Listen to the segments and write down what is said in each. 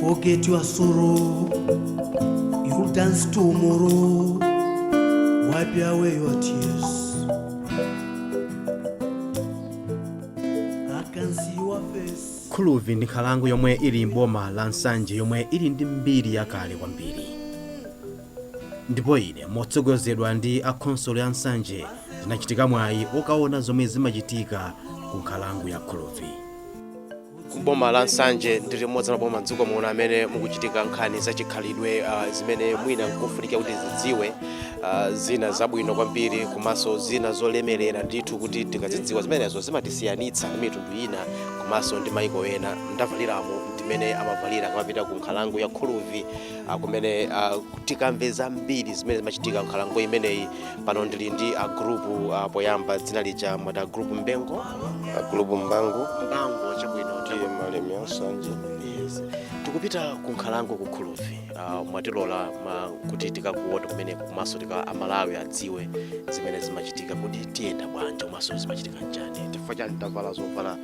Forget your sorrow, you'll dance tomorrow. Wipe away your tears. I can see your face. khuluvi ndi nkhalango yomwe ili m'boma la nsanje yomwe ili ndi mbiri yakale kwambiri ndipo ine motsogozedwa ndi a khonsolo ya nsanje ndinachita mwayi okaona zomwe zimachitika ku nkhalango ya khuluvi kuboma la nsanje ndi limodzi la maboma mdziko muno amene mukuchitika nkhani za chikhalidwe uh, zimene mwina nkufunika kuti tizidziwe uh, zina zabwino kwambiri komanso zina zolemerera ndithu kuti tikazidziwa zimenezo zimatisiyanitsa ndi mitundu ina komanso ndi maiko ena ndavaliramu ndi mmene amavalira akamapita ku nkhalango ya khuluvi uh, kumene uh, tikamve zambiri zimene zimachitika nkhalango imeneyi pano ndili ndi agulupu uh, poyamba dzina lija mwati agulupu mbangu agulupu mbangu mbangu chabwino ndi taku- malemi ansanje yes. tikupita ku nkhalango ku khuluvi uh, mwatilola ma, kuti tikaoneko kumene komanso tika amalawi adziwe zimene zimachitika kuti tiyenda bwanji komanso zimachitika nchani chifukwa chani tavala zovala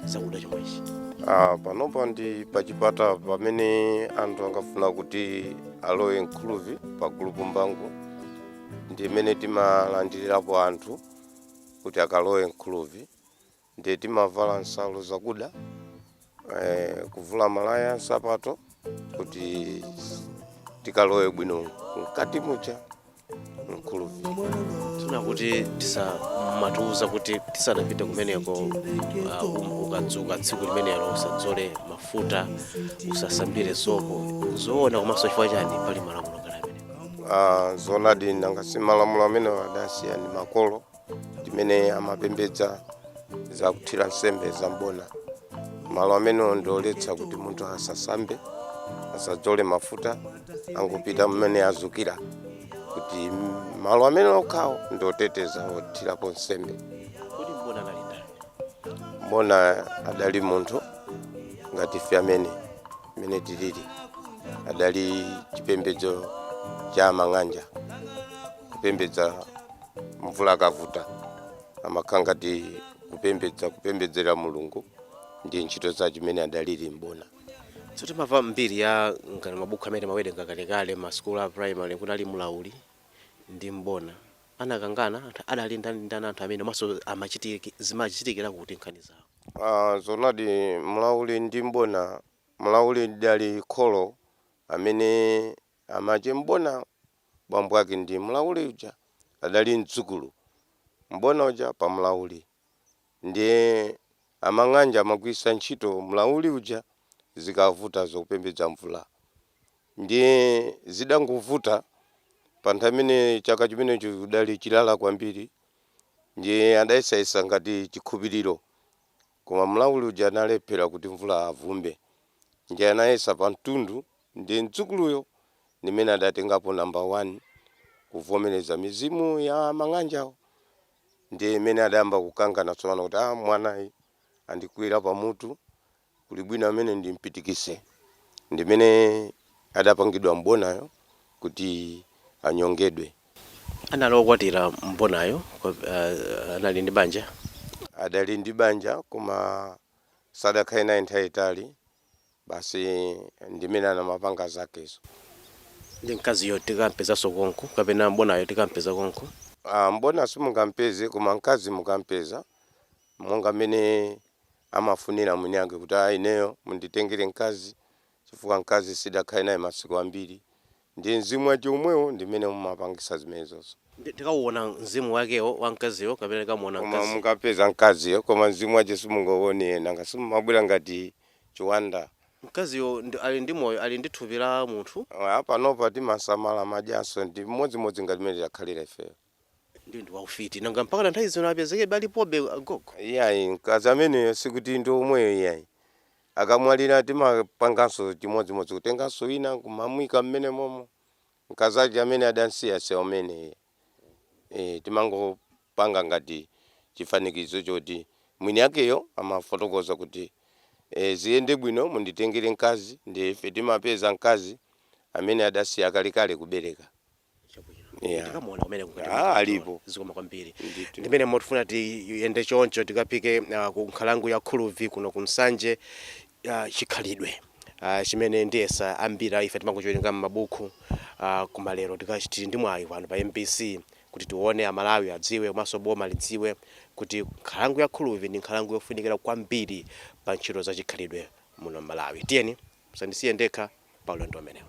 zakuda chomwechi Ah, panopa ndi pachipata pamene anthu akafuna kuti alowe mkhuluvi pa gulupu mbangu ndi pamene timalandilirapo anthu kuti akalowe mkhuluvi ndiye timavala nsalu zakuda eh, kuvula malaya nsapato kuti tikalowe bwino mkati muja mkhuluvi ena akuti amatiuza kuti tisanapite kumeneko uh, um- ukadzuka tsiku limenelo usadzole mafuta usasambire sopo zoona komanso chifukwa chani pali malamulo ngati amenewa Ah, zoonadi nanga si malamulo amene adasiyidwa ndi makolo mmene amapembedza za kuthira nsembe za mbona malo amenewo ndioletsa kuti munthu asasambe asadzole mafuta angopita mmene adzukira kuti mm, malo amene okhawo ndiotetezedwa othirapo nsembe kodi mbona anali ndani mbona adali munthu ngati ife amene mmene tilili adali chipembedzo cha mang'anja kupembedza mvula ikavuta amakhala ngati kupembedza kupembedzera mulungu ndi ntchito za chimene adalili mbona so timamva mbiri ya ngati mabuku amene timawerenga kalekale masukulu a primary kunali mlauli ndi mbona anakangana anthu anali ndani ndani anthu amenewa komanso zimachitikira kuti nkhani zawo Aaa zoonadi mlauli ndi m'bona mlauli adali kholo amene amache a m'bona bambo ake ndi mlauli uja adali mdzukulu m'bona uja pa mlauli ndiye amang'anja amagwiritsa ntchito mlauli uja zikavuta zakupembedza mvula ndiye zidangovuta pa nthawi imene chaka chimenecho kudali chilala kwambiri ndiye adayesayesa ngati chikhulupiriro koma mlauli uja analephela kuti mvula avumbe ndiye anayesa pa mtundu ndiye mdzukuluyo ndi amene adatengapo number 1 kuvomeleza mizimu ya mang'anjawo ndiye imene adayamba kukangana tsopano kuti a mwanayu andikwira pa mutu Kuli bwino amene ndimpitikitse ndimene adapangidwa m'bonayo kuti anyongedwe. Anali okwatira m'bonayo koma anali ndi banja? Adali ndi banja koma sadakhale naye nthawi yayitali basi ndimene anamapanga zakezo. Ndi mkaziyo tikampezanso konko kapena m'bonayo tikampeza konko? Aaa m'bona simungampeze koma mkazi mukampeza monga mmene amafunira mwini ake kuti a ineyo munditengere mkazi chifukwa mkazi sindidakhale naye masiku ambiri ndiye mzimu wache omwewo ndi umene umapangitsa zimenezozo. Ndiye tikauona mzimu wakewo wa mkaziyo kapena tikamuona Koma mkaziyo. mukapeza mkaziyo koma mzimu wache simungauone nanga simumabwera ngati chiwanda. Mkaziyo ali ndi moyo ali ndi thupi la munthu. Eya panopa timasamala amadyanso ndi chimodzimodzi ngati mmene tidakhalira ifeyo. Ndiye ndi waufiti. Nanga mpakana nthawi zino apezekebe alipobe agogo? Iyayi, mkazi ameneyo sikuti ndi omweyo iyayi. Akamwalira timapanganso chimodzimodzi, kutenganso wina n'kumamuika mmenemomo. Mkazache amene adam'siya si amene iyayi. Eeh, timangopanga ngati chifanikizo choti mwiniwakeyo amafotokoza kuti, Eh, ziyende bwino munditengere mkazi, ndiye ife timapeza mkazi amene adasiya kalekale kubereka. tikamuona kumene ah, alipo zikomo kwambiri ndi mmenemo tifuna tiyende choncho tikafike uh, ah, ku nkhalango ya khulubvi kuno ku nsanje uh, ah, chikhalidwe uh, chimene ndiyesa ambiri ife timangochiwerenga m'mabuku uh, koma lero tikachiti tili ndi mwayi pano pa mbc kuti tione amalawi adziwe komanso boma lidziwe kuti nkhalango ya khulubvi ndi nkhalango yofunikira kwambiri pa ntchito za chikhalidwe muno m'malawi tiyeni musandisiye ndekha pa ulendo umenewu.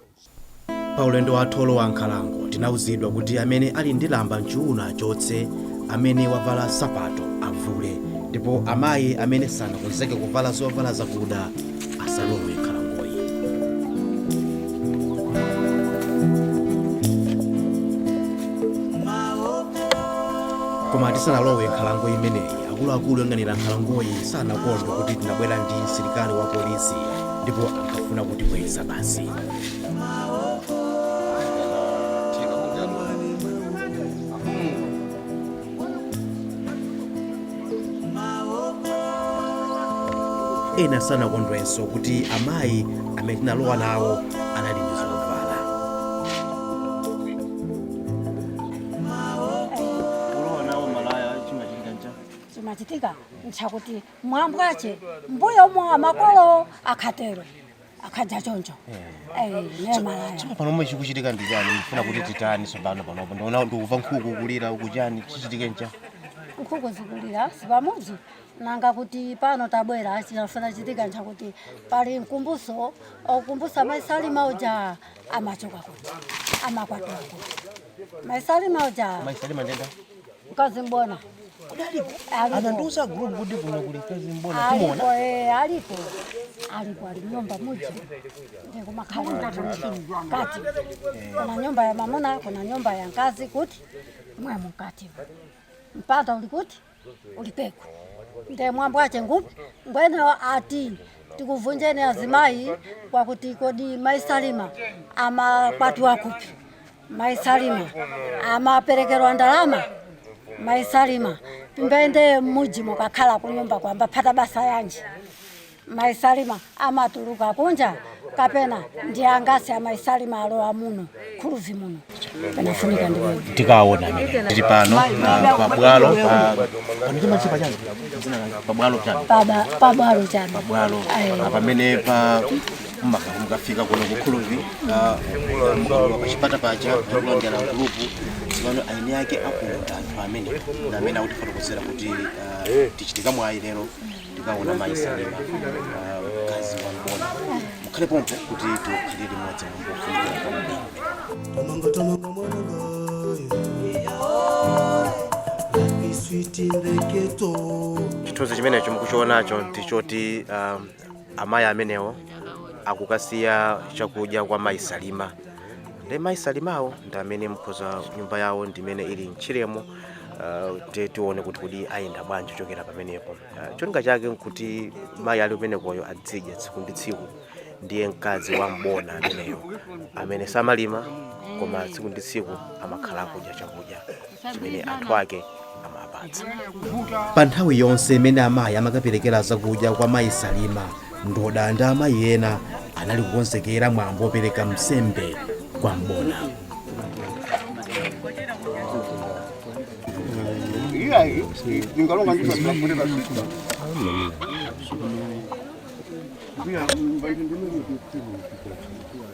Pa ulendo wathu wolowa nkhalango tinauzidwa kuti amene ali ndi lamba m'chuuno achotse, amene wavala nsapato avule, ndipo amayi amene sanakonzeke kuvala zovala zakuda asalowe m'nkhalangoyi. Koma tisanalowe nkhalango imeneyi, akuluakulu oyang'anira nkhalangoyi sanakondwe kuti tinabwera ndi msilikali wa polisi. ndipo ankafuna kutibweza basi ena sanakondwenso kuti amayi amene tinalowa nawo anali ndi zovala kulowa nawo malaya chimachitika ncha chimachitika nchakuti mwambo wake m'mbuyomu wa makolo akhatero akhadza choncho Eh, ne malaya tsono pano momwe chikuchitika ndi chani mufuna kuti titani tsopano panopo ndiona ndikumva nkhuku kulira ukuchani chichitike ncha nkhuku zikulira si pamudzi nanga kuti pano tabwera chinafuna kuchitika nchakuti pali mkumbuso okumbusa mai salima uja amachoka kuti amakwatira kuti mai salima uja mai salima ndenda mkazi mbona anandiuza group kuti kuno kuli mkazi mbona alipo timuona eh, alipo alipo ali nyumba muji ndikumakhala kati kuna nyumba ya mamuna kuna nyumba ya nkazi kuti mwe mukati mpanda uli kuti ulipeko nde mwambo ache ngupi ngwenewo ati tikuvunjeni azimayi kwakuti kodi maisalima amakwati wakupi mai salima amaperekerwa ndalama mai salima timbayende mmudzi mukakhala kunyumba kwamba phata basa yanji mai salima amatuluka kunja kapena ndi angasi a mai salima alowa muno khuluvi muno pakufunika ndiwe tikaona amene tili pano ah, pabwalo pa- panichimachipa chani Dzina lake, pabwalo chani Paba- pabwalo chani pabwalo Ayi. Ah, pamene pa mmakhala mukafika kuno kukhuluvi mukalowa pa chipata paja kulondera gulupu tsopano eni ake akuno ndi anthu amene ndi amene akutifotokozera kuti ah, tichita mwayi lero tikaona mayi salima ah, mkazi wa mbona mukhale pompo kuti tiwakhalire limodzi mumbofunikira kwambiri Tomanga tomanga mwananga Happy sweet in the ghetto chithunzi chimenecho mukuchionacho ndichoti um, amayi amenewo akukasiya chakudya kwa mayi salima ndi mayi salimawo ndi amene mkhoza nyumba yawo ndimene ili mtchiremo Uh, ti tione kuti kodi ayenda bwanji kuchokera pamenepo uh, cholinga chake nkuti mayi ali kumenekoyo adzidya tsiku ndi tsiku ndiye mkazi wa mbona ameneyo amene samalima koma tsiku ndi tsiku amakhala akudya chakudya chimene anthu ake amapita pa nthawi yonse imene amayi amakaperekera zakudya kwa mayi salima ndota ndi amayi ena anali kukonzekera mwambo wopereka msembe kwa mbona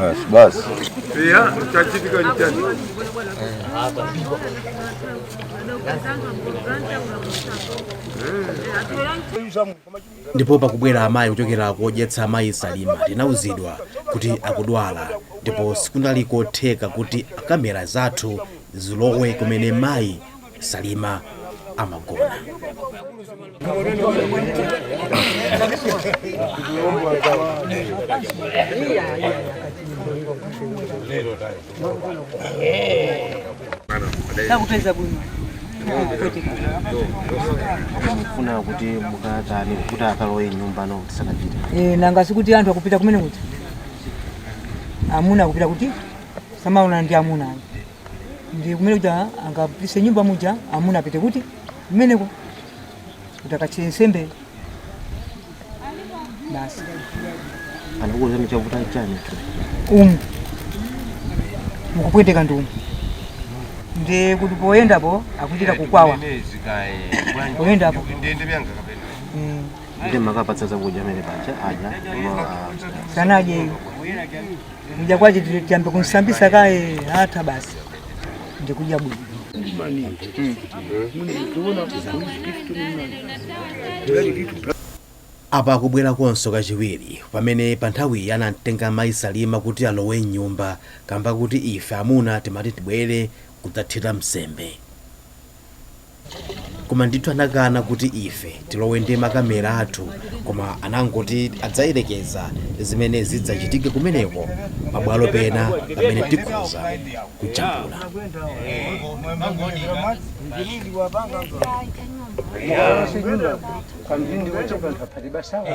Basi basi. Pia chachitika ni chani. ndipo pakubwera amayi kuchokera kodyetsa amayi salima tinauzidwa kuti akudwala ndipo sikunali kotheka kuti kamera zathu zilowe kumene mayi Salima amagona. Takupeza bwino. mufuna kuti mukatani kuti akalowe nyumba no tisakapite Eh, nanga sikuti anthu akupita kumene kuti amuna akupita kuti samaona ndi amuna ayi ndi kumene kuti a- angapise nyumba muja amuna apite kuti kumeneko kuti akachite nsembe basi anakuuza michavuta chani tu umu mukupweteka ndi umu ndikuti poyendapo akuchita kukwawa poyendapo Mm. ndimakapatsa zakudya amene paja aja koma, ah, sanadyeyo Kudya kwake tiyambe kumsambisa kaye hata basi. Ndikuja budi. apa akubwera konso kachiwiri pamene pa nthawiyi anamtenga mayi salima kuti alowe mnyumba kamba kuti ife amuna timati tibwere kudzathira msembe koma ndithu anakana kuti ife tilowe ndi makamera athu koma anangoti adzayerekeza zimene zidzachitike kumeneko pabwalo pena pamene tikhoza kujambula kamphindi wochepa nthaphati basawa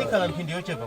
ikhala mphindi yochepa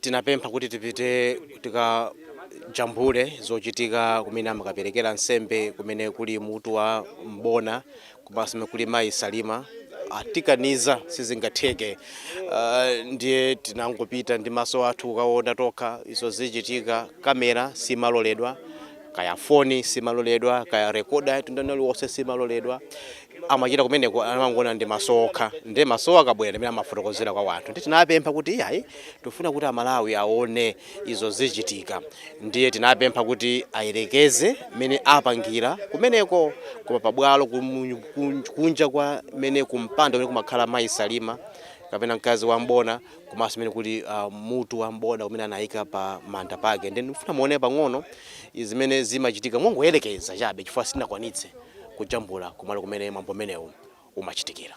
Tinapempha kuti tipite tikajambule zochitika kumene amakaperekera nsembe, kumene kuli mutu wa M'bona komanso kumene kuli mayi Salima. Atikaniza, sizingatheke. Ndiye tinangopita ndi maso athu kukaona tokha izo zichitika. Kamera simaloledwa. kaya foni simaloledwa kaya rekoda ya mtundu uliwonse simaloledwa amachita kumeneko amangoona ndi maso okha ndi maso akabwera mmene amafotokozera kwa wanthu ndiye tinapempha kuti iyayi tifuna kuti amalawi aone izo zichitika ndiye tinapempha kuti ayerekeze mmene apangira kumeneko koma pabwalo kumu- kun- kunja kwa mene kumpanda kumene kumakhala mayi salima kapena mkazi wa mbona komanso kumene kuli uh, mutu wa mbona umene anayika pa manda pake nde ndikufuna muone pang'ono zimene zimachitika mongoyerekeza chabe chifukwa sindinakwanitse kujambula kumalo kumene mwambo umenewu umachitikira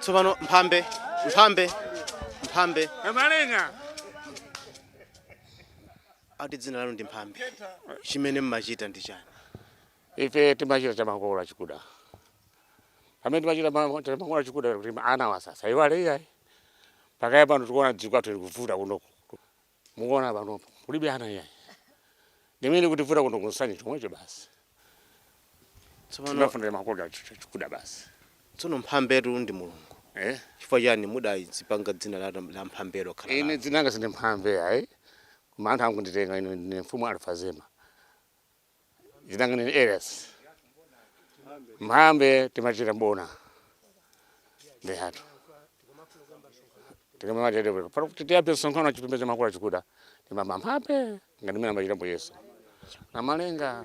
tsopano mphambe mphambe mphambe abalenga akuti dzina lanu ndi mphambe chimene mmachita ndi chani ife timachita chamakolo achikuda pamene timachita ma- chamakolo achikuda kuti anawa asaiwale iyayi pakadali pano tikuona dziko lathu likuvuta kuno Mukuona panopo kulibe ana iyayi. Ndimene zikutivuta kuno ku Nsanje chomwecho basi. Tsopano Timafunira makolo athu ch- ch- kuda basi. tsono mphambetu ndi Mulungu. Eh? Chifukwa chani mudazipanga dzina la, la mphambelo kukhala dzina lanu? dzina langa sindi mphambe ayi. Koma anthu angunditenga ine ndine mfumu Alfazema. dzina langa ndi Elias mphambe timachita mbona nde ngati tikamatepa pano kuti tiyambe msonkhano wa chipembedzo cha makolo achikuda timati mphambe ngati mmene amachita mbuye yesu namalenga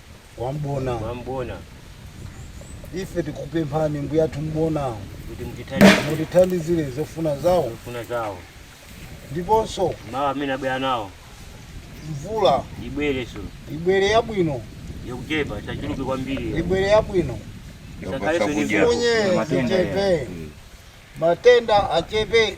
kwa mbona kwa mbona ife tikupemphani mbuyathu mbona kuti mutithandize mutithandizire zofuna zawo zofuna zawo ndiponso mawu amene abwera nawo mvula ibwerenso ibwere yabwino yokuchepa isachuluke kwambiri ibwere yabwino isakhalenso ndi Sakudya. mvula. unye Matenda zichepe matenda achepe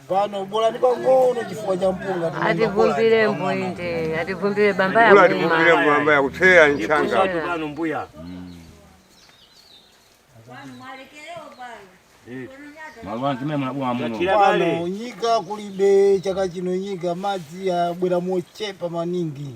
pano bolani pang'ono chifukwa cha mpunga ativumbire mbwinde ativumbire bamba ya ativumbire mbamba ya kuthetsa njala pano mbuya pano nyika kulibe chaka chino nyika madzi abwera mochepa maningi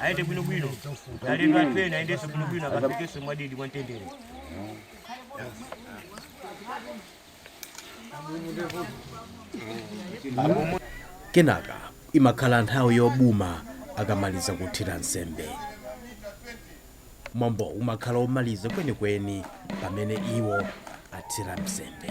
ayende bwinobwino alendo athu ena ayendenso bwinobwino akafikenso mwadidi mwantendere kenaka imakhala nthawi yobuma akamaliza kuthira nsembe mwambo umakhala omaliza kwenikweni pamene iwo athira nsembe